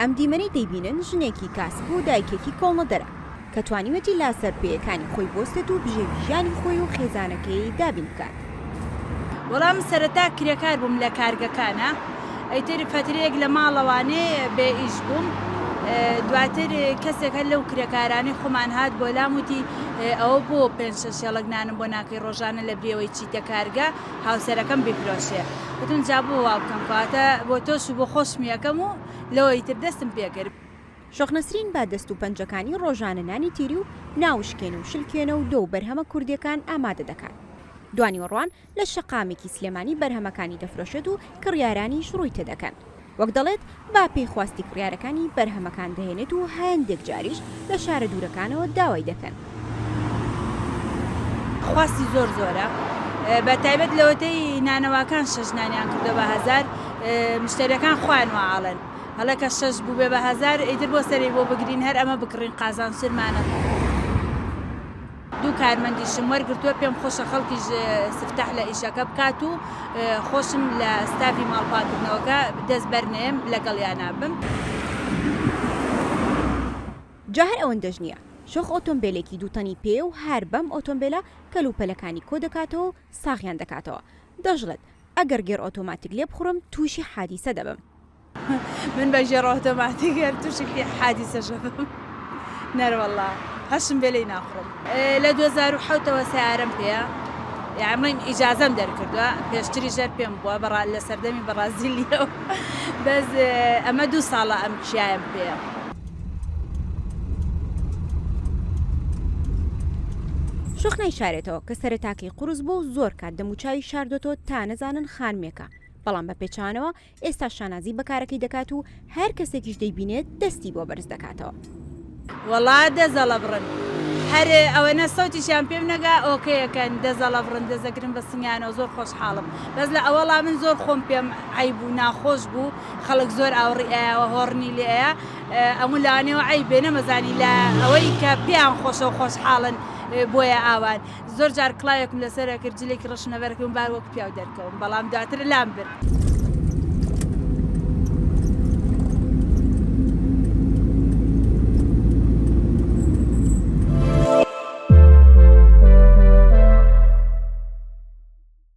ئەم دیمەنەی دەیبینن ژنێکی کاسب و دایکێکی کۆڵنەدەرە کە توانیوێتی لاسەر پێیەکانی خۆی بوەستێت و بژێوی ژیانی خۆی و خێزانەکەیی دابین بکات. وەڵا من سەرەتا کرێکار بووم لە کارگەکانا ئیتر فەترەیەک لە ماڵەوانێ بێ ئیش بووم دواتر کەسێک هەر لەو کرێکارانەی خۆمان هات بۆلام وتی ئەوە بۆ پێنج شەش هێڵەک نانم بۆ ناکەی؟ ڕۆژانە لە برێوەی چیتە کارگە هاوسەرەکەم بیفرۆشێ وتم جا بۆ وا بکەم کەواتە بۆ تۆش و بۆ خۆشمی ئەکەم و لەوەی تر دەستم پێ کرد. شۆخ نەسرین با دەست و پەنجەکانی ڕۆژانە نانی تیری و ناوشکێن و شلکوێنە و دۆ و بەرهەمە کوردیەکان ئامادە دەکات دوانیوەڕوان لە شەقامێکی سلێمانی بەرهەمەکانی دەفرۆشێت و کڕیارانیش ڕووی تێدەکەن. وەک دەڵێت با پێی خواستی کڕیارەکانی بەرهەمەکان دەهێنێت و هەندێک جاریش لە شارە دوورەکانەوە داوای دەکەن. خواستی زۆر زۆرە بە تایبەت لەوەتەی نانەواکان شەش نانیان کردوە بە هەزار مشتەریەکان خۆیان وا ئەڵێن هەڵە کە شەش بووبێ بە هەزار ئیتر بۆ سەری بۆ بگرین هەر ئەمە بکڕین قازانج ترمانە. دوو کارمەندیشم وەرگرتووە، پێم خۆشە خەڵکیش سفتاح لە ئیشەکە بکات و خۆشم لە ستافی ماڵپاکردنەوەکە دەست بەرنەیەم لەگەڵیانا بم. جا هەر ئەوەندەش نییە، شۆخ ئۆتۆمبێلێکی دوو تەنی پێیە و هەر بەم ئۆتۆمبێلە کەل و پەلەکانی کۆ دەکاتەوە و ساغیان دەکاتەوە. دەشڵێت، ئەگەر گێڕ ئۆتۆماتیک لێبخوڕم تووشی حادیسە دەبم. من بە ژێڕ ئۆتۆماتیک هەر توشکی حادیسە شەبم نەروەڵا هەشم بێ لی ناخڕم لە دوو هەزار و حەوت ەوە سیارەم پێە یاڕڵین ئیجازەم دەرکردووە پێشتری ژەر پێم بووە بەڕا لە سەردەمی بەڕازیلیەوە بەس ئەمە دوو ساڵە ئەم کیایم پێە شۆخ نایشارێتەوە کە سەرەتاکەی قوڕس بووە و زۆر کات دەموچاوی شاردۆتەوە تا نەزانن خانمێکە بەڵام بە پێچەوانەوە ئێستاش شانازی بە کارەکەی دەکات و هەر کەسێکیش دەیبینێت دەستی بۆ بەرز دەکاتەوە. وەڵا دەزەڵەبڕن هەر ئەوەنە سەوتیشیان پێم نەگا ئۆکەیەکەن دەزەڵەبڕن دەزەگرن بە سنگیانەوە زۆر خۆشحاڵم بەس لە ئەوەڵا من زۆر خۆم پێم عەیب بوو ناخۆش بوو خەڵک زۆر ئاوڕی ئەیاوە هۆڕنی لێ ئەیا ئەموو لانێوە عەیبێ نەمەزانی لە ئەوەی کە پێیان خۆشە و خۆشحاڵن بۆیە ئاوان زۆر جار کڵاوێکم لەسەر ئەکرد جلێکی ڕەشم لەبەر ئەکرد و بار وەک پیاو دەرکەوم، بەڵام دواتر لام برد.